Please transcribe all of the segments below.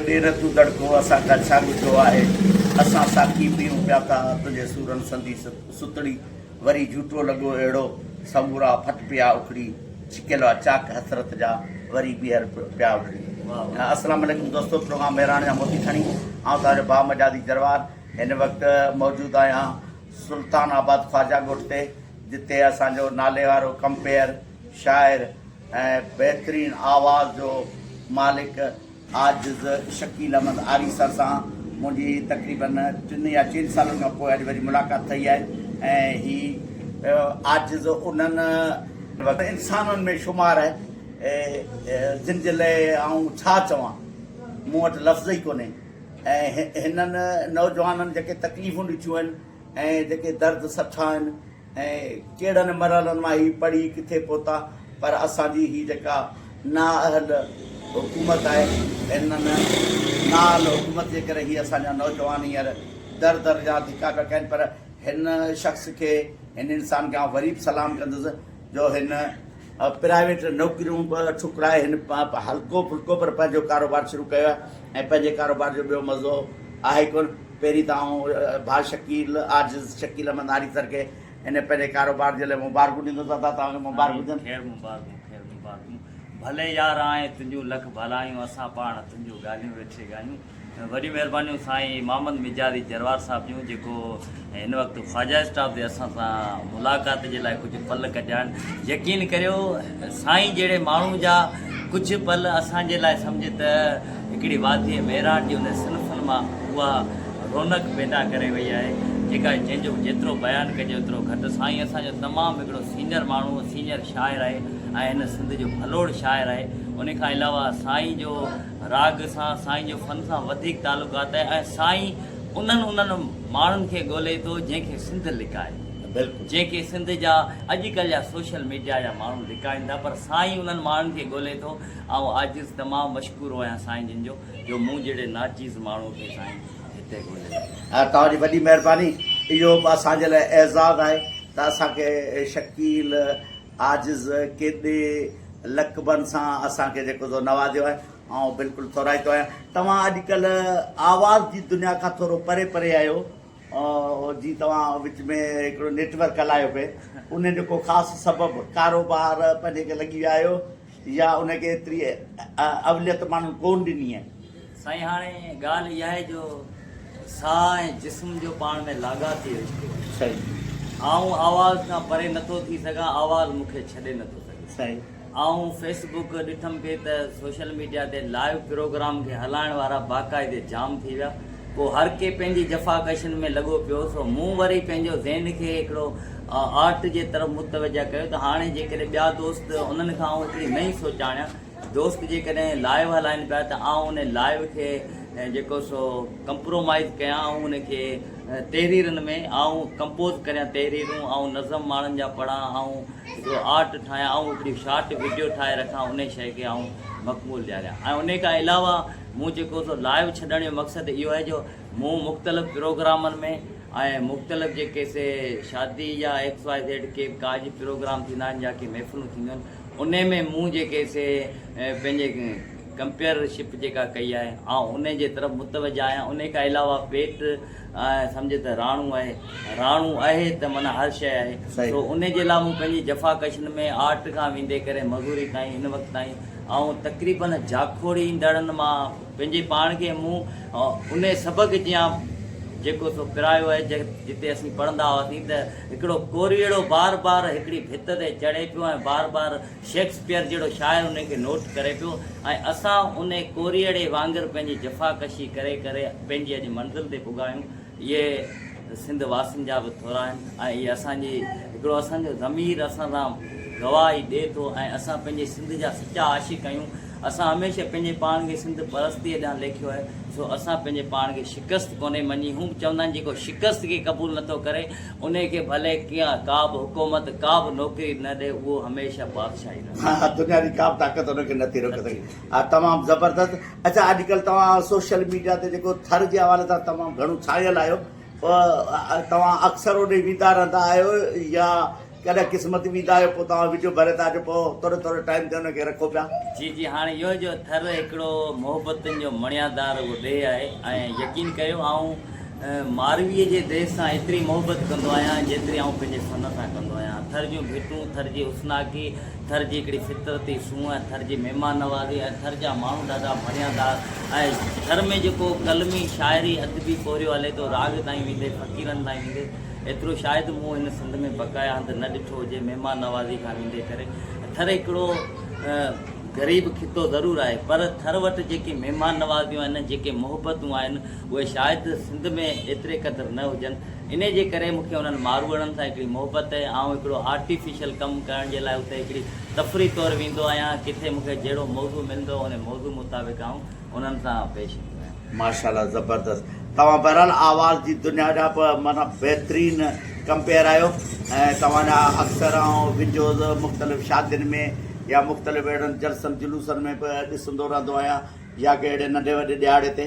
ڏير تون دڙڪو اسان کان ڇا ڳجهو آهي اسان ساقي پيئون پيا ٿا تنهنجي سورن سندي ستڙي وري جهوٽو لڳو اهڙو سمورا ڦٽ پيا اکڙي ڇڪيل آ چاڪ حسرت جا وري ٻيهر پيا اکڙي اسلام عليڪم دوستو پروگرام مهراڻ جا موتي کڻي آئون توهان جو با مجازي جروار هن وقت موجود آهيان سلطان آباد خواجا ڳوٺ تي جتي اسان جو نالي وارو ڪمپيئر شاعر ۽ بهترين آواز جو مالڪ عاجز شڪيل احمد آري سر سان منهنجي تقريباً ٽن يا چئن سالن کان پوء اڄ وري ملاقات ٿئي آهي ۽ هي عاجز انهن انسانن ۾ شمار آهي جن جي لاء آئون ڇا چوان مون وٽ لفظ ئي ڪونهي ۽ هنن نوجوانن جيڪي تڪليفون ڏٺيون آهن ۽ جيڪي درد سٺا آهن ۽ ڪهڙن مرحلن مان هي پڙهي ڪٿي پهتا پر اسان جي هي جيڪا نااهل حڪومت آهي ان نااهل حڪومت جي ڪري هي اسان جا نوجوان هينئر در در جا ڌڪا پيا کائين پر هن شخص کي هن انسان کي آئون وري به سلام ڪندس جو هن پرائيويٽ نوڪريون به ٺڪرائي هن هلڪو ڦلڪو پر پنهنجو ڪاروبار شروع ڪيو آهي ۽ پنهنجي ڪاروبار جو ٻيو مزو آهي ڪونه. پهرين ته آئون ڀاء شڪيل عاجز شڪيل احمد ناري سر کي هن پنهنجي ڪاروبار جي لاء مبارڪون ڏيندس. ادا توهان کي مبارڪ هجن. آمين خير مبارڪون خير مبارڪون ڀلي يار آئين تنهنجون لک ڀلائيون اسان پاڻ تنهنجون ڳالهيون ويٺي ڳايون. وڏيون مهربانيون سائين محمد مجازي جروار صاحب جون جيڪو هن وقت خواجه اسٽاف تي اسان سان ملاقات جي لاء ڪجهه پل ڪڍيان يقين ڪريو سائين جهڙي ماڻهو جا ڪجهه پل اسان جي لاء سمجهه ته هڪڙي وادي ميراڻ جي ان صنفن مان اها رونق پيدا ڪري وئي آهي جيڪا جنهن جو جيترو بيان ڪجي اوترو گهٽ سائين اسان جو تمام هڪڙو سينئر ماڻهو سينئر شاعر آهي ۽ هن سنڌ جو ڀلوڙ شاعر آهي ان کان علاوه سائين جو راڳ سان سائين جو فن سان وڌيڪ تعلقات آهي ۽ سائين انهن انهن ماڻهن کي ڳولي ٿو جنهن کي سنڌ لڪائي بلڪل جنهن کي سنڌ جا اڄ ڪلهه جا سوشل ميڊيا جا ماڻهو لڪائين ٿا پر سائين انهن ماڻهن کي ڳولي ٿو آئون عاجز تمام مشڪور آهيان سائين جن جو جو مون جهڙي ناچيز ماڻهو کي سائين هتي ڳولي لڳي توهان جي وڏي مهرباني اهو به اسان جي لاء اعزاز آهي ته اسان کي شڪيل عاجز ڪيڏي لقبن سان اسان کي جيڪو تو نوازيو آهي، آئون بلڪل ٿورائتو آهيان. توهان اڄڪلهه آواز جي دنيا کان ٿورو پري پري آهيو، جي توهان وچ ۾ هڪڙو نيٽ ورڪ هلايو پئي، ان جو ڪو خاص سبب ڪاروبار پنهنجي کي لڳي ويا آهيو؟ يا ان کي ايتري اوليت ماڻهن ڪون ڏني آهي. سائين هاڻي ڳالهه اها آهي جو ساهه ۽ جسم جو پاڻ ۾ لاڳاپي رشتو آهي. صحيح. آئون آواز کان پري نٿو ٿي سگهان آواز مون کي ڇڏي نٿو سگهي. صحيح. آئون فيس بوڪ ڏٺم پئي ته سوشل ميڊيا تي لائيو پروگرام کي هلائڻ وارا باقاعدي جام ٿي ويا. پوء هر ڪي پنهنجي جفاڪشين ۾ لڳو پيو سو مون وري پنهنجو ذهن کي هڪڙو آرٽ جي طرف متوجه ڪيو ته هاڻي جيڪڏهن ٻيا دوست انهن کان آئون هڪڙي نئين سوچ آڻيان دوست جيڪڏهن لائيو هلائين پيا ته آئون انهي لائيو کي جيڪو سو ڪمپرومائيز ڪيان آئون انهي کي تحريرن ۾ آئون ڪمپوز ڪريان تحريرون آئون نظم ماڻهن جا پڙهان آئون هڪڙو آرٽ ٺاهيان آئون هڪڙي شارٽ وڊيو ٺاهي رکان انهي شئي کي آئون مقبول ڏياريان ۽ انهي کان علاوه مون جيڪو سو لائيو ڇڏڻ جو مقصد اهو آهي جو مون مختلف پروگرامن ۾ ۽ مختلف جيڪي سي شادي يا ايڪس واء زيڊ ڪي به ڪاڄ پروگرام ٿيندا آهن يا ڪي محفلون ٿينديون آهن انهي ۾ مون جيڪي سي پنهنجي ڪمپيئر شپ جيڪا ڪئي آهي آئون انهي جي طرف متوجه آهيان انهي کان علاوه پيٽ ائين سمجهه ته راڻو آهي. راڻو آهي ته معنيٰ هر شيء آهي. سو انهي جي لاء مون پنهنجي جفا ڪشن ۾ آرٽ کان ويندي ڪري مزوري تائين هن وقت تائين آئون تقريباً جاکوڙيندڙن مان پنهنجي پاڻ کي مون انهي سبق جيان جيڪو سو پرايو آهي جتي اسين پڙهندا هئاسين ته هڪڙو ڪوريئڙو بار بار هڪڙي ڀت تي چڙهي پيو ۽ بار بار شيڪسپيئر جهڙو شاعر انهي کي نوٽ ڪري پيو ۽ اسان انهي ڪوريئڙي وانگر پنهنجي جفا ڪشي ڪري ڪري پنهنجي اڄ منزل تي پڳا آهيون. اهي سنڌ واسين جا به ٿورا آهن ۽ اهي اسان جي هڪڙو اسان جو ضمير اسان سان گواهي ڏئي ٿو ۽ اسان پنهنجي سنڌ جا سچا عاشق آهيون. اسان هميشه پنهنجي پاڻ کي سنڌ پرستيء ڏانهن ليکيو آهي سو اسان پنهنجي پاڻ کي شڪست ڪونهي مڃي. هو به چوندا آهن جيڪو شڪست کي قبول نٿو ڪري انهي کي ڀلي ڪيئن ڪابه حڪومت ڪابه نوڪري نه ڏي اهو هميشه بادشاهه ئي رهندو. ها دنيا جي ڪابه طاقت ان کي نٿي روڪي سگهي. ها تمام زبردست اچا اڄ ڪلهه توهان سوشل ميڊيا تي جيڪو ٿر جي حوالي سان تمام گهڻو ڇانيل آهيو توهان اڪثر اوڏي ويندا رهندا آهيو يا ڪڏهن قسمت ويندا آهيو پوء توهان وڊيو ڀري ٿا اچو پوء ٿوري ٿوري ٽائيم تي ان کي رکو پيا. جي جي هاڻي اهو جو ٿر هڪڙو محبتن جو مڻيا دار اهو ڏيهه آهي ۽ يقين ڪيو آئون مارويء جي ديس سان ايتري محبت ڪندو آهيان، جيتري آئون پنهنجي سن سان ڪندو آهيان. ٿر جون ڀيٽون، ٿر جي حسناڪي، ٿر جي هڪڙي فطرتي سونهن، ٿر جي مهمان نوازي ۽ ٿر جا ماڻهو ڏاڍا بڻيادار ۽ ٿر ۾ جيڪو قلمي، شاعري، ادبي پورهيو هلي ٿو، راڳ تائين ويندي، فقيرن تائين ويندي، ايترو شايد مون هن سنڌ ۾ بقايا هنڌ نه ڏٺو هجي، مهمان نوازي کان ويندي ڪري. ٿر هڪڙو غريب خطو ضرور آهي، پر ٿر وٽ جيڪي مهمان نوازيون آهن، جيڪي محبتون آهن، اهي شايد سنڌ ۾ ايتري قدر نه هجن. انهي جي ڪري مون کي انهن ماروئڙن سان هڪڙي محبت اهي. آئون هڪڙو آرٽيفيشل ڪم ڪرڻ جي لاء اتي هڪڙي تفريح طور ويندو آهيان. ڪٿي مون کي جهڙو موضوع ملندو انهي موضوع مطابق آئون انهن سان پيش ايندو آهيان. ماشاء الله زبردست توهان بهرحال آواز جي دنيا جا به معنيٰ بهترين ڪمپيئر آهيو ۽ توهان جا اڪثر آئون ويڊيوز مختلف شادين ۾ يا مختلف اهڙن جلسن جلوسن ۾ به ڏسندو رهندو آهيان يا ڪي اهڙي ننڍي وڏي ڏهاڙي تي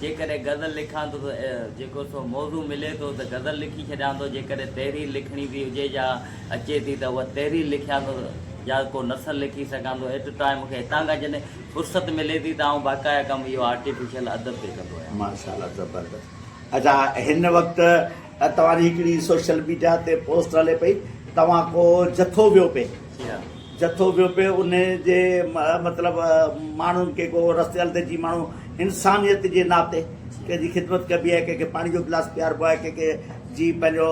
جيڪڏهن غزل لکان ٿو ته جيڪو سو موضوع ملي ٿو ته غزل لکي ڇڏيان ٿو، جيڪڏهن تحرير لکڻي به هجي يا اچي ٿي ته اها تحرير لکيان ٿو يا ڪو نثر لکي سگهان ٿو ايٽ اي ٽائيم مون کي هتان کان جڏهن فرصت ملي ٿي ته آئون باقاعده ڪم اهو آرٽيفيشل ادب تي ڪندو آهيان. ماشاء الله زبردست اچا هن وقت توهان جي هڪڙي سوشل ميڊيا تي پوسٽ هلي پئي توهان ڪو جٿو ويو پئي. جٿو ويو پئي انهي جي مطلب ماڻهن کي ڪو رستي هلندي جي ماڻهو انسانيت جي ناتي ڪنهن جي خدمت ڪبي آهي ڪنهن کي پاڻي جو گلاس پياربو آهي ڪنهن کي جي پنهنجو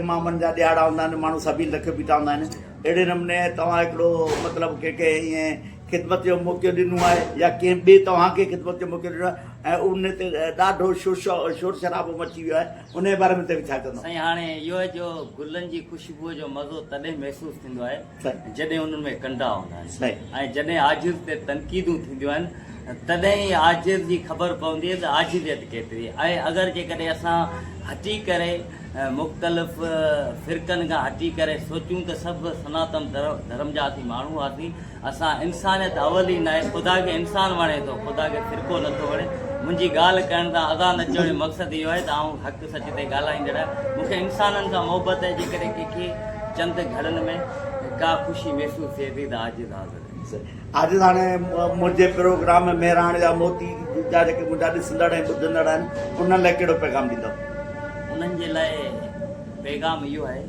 امامن جا ڏيهاڙا هوندا آهن ماڻهو سبيل رکي بيٺا هوندا آهن اهڙي نموني توهان هڪڙو مطلب ڪنهن کي ائين خدمت جو موقعو ڏنو آهي يا ڪنهن ٻي توهان کي خدمت جو موقعو ڏنو آهي ۽ ان تي ڏاڍو شور شرابو مچي ويو آهي انهيء باري ۾ توهين ڇا چوندؤ؟ سائين هاڻي اهو آهي جو گلن جي خوشبوء جو مزو تڏهن محسوس ٿيندو آهي جڏهن انهن ۾ ڪنڊا هوندا آهن ۽ جڏهن آجر تي تنقيدون ٿينديون آهن تڏهن ئي آجر جي خبر پوندي آهي ته آجريت ڪيتري آهي ۽ اگر جيڪڏهن اسان هٽي ڪري مختلف فرقن کان هٽي ڪري سوچون ته سڀ سناتن ڌرم جا اسين ماڻهو هئاسين اسان انسانيت اول ئي ناهي خدا کي انسان وڻي ٿو خدا کي فرقو نٿو وڻي منهنجي ڳالهه ڪرڻ تان اذان اچڻ جو مقصد اهو آهي ته آئون حق سچ تي ڳالهائيندڙ آهيان مون کي انسانن سان محبت آهي جيڪڏهن ڪنهن کي چند گهڙن ۾ ڪا خوشي محسوس ٿئي ٿي ته عاجز حاضر آهي. عاجز هاڻي منهنجي پروگرام ۾ مهراڻ جا موتي جا جيڪي منهنجا ڏسندڙ ۽ ٻڌندڙ آهن انهن لاء ڪهڙو پيغام ڏيندؤ؟ انهن جي لاء پيغام اهو آهي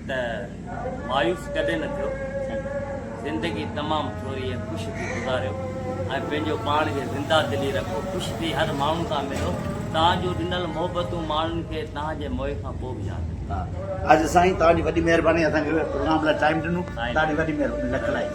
ته. مايوس ڪڏهن نه ٿيو ٿي، زندگي تمام ٿوري ۽ خوش ٿي گذاريو ۽ پنهنجو پاڻ کي زنده دلي رکو، خوش ٿي هر ماڻهو سان ملو، توهان جون ڏنل محبتون ماڻهن کي توهان جي موئي کان پوء به ياد رهنديون. ها اڄ سائين توهان جي وڏي مهرباني اسان کي پروگرام لاء ٽائيم ڏنو توهان جي وڏي مهرباني لک لاکي.